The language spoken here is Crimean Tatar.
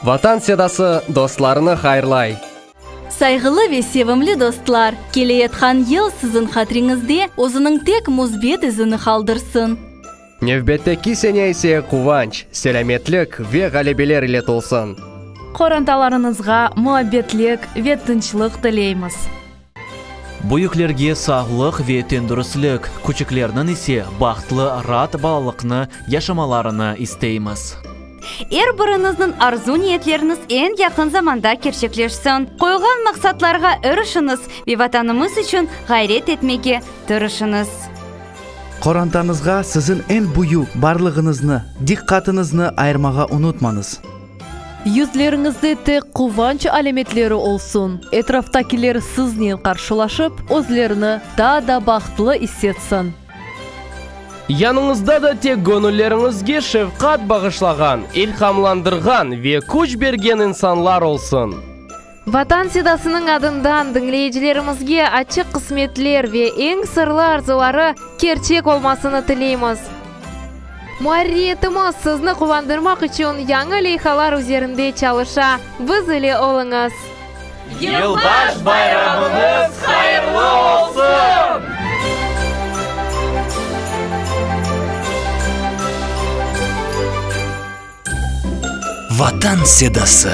Vatan Sedası dostlarını hayırlay. Sayğılı ve sevimli dostlar, keleyatqan yıl siziñ hatriñizde özüniñ tek müsbet izini qaldırsın! Nevbetteki sene ise quvanç, selâmetlik ve ğalebeler ile tolsun! Qorantalarıñızğa muabbetlik ve tınçlıq tileymiz! Büyüklerge sağlıq ve tendürüstlik, küçüklerniñ ise bahtlı, raat balalıqnı yaşamalarını isteymiz. Er biriñizniñ arzu-niyetleriñiz eñ yaqın zamanda kerçekleşsin. Qoyğan maqsatlarğa irişiñiz ve Vatanımız içün ğayret etmege tırışıñız. Qorantañızğa siziñ eñ büyük barlığıñıznı, diqqatıñıznı ayırmağa unutmañız. Yüzleriñizde tek quvanç alâmetleri olsun, etraftakiler siznen qarşılaşıp, özlerini daa da bahtlı issetsin. Yanıñızda da tek göñülleriñizge şefqat bağışlağan, ilhamlandırğan ve küç bergen insanlar olsun. Vatan Sedasınıñ adından diñleyicilerimizge açıq qısmetler ve eñ sırlı arzuları kerçek olmasını tileymiz. Muarririyetimiz sizni quvandırmaq içün yañı leyhalar üzerinde çalışa, biz ile oluñız! Yılbaş bayramıñız hayırlı olsun! Vatan sedası.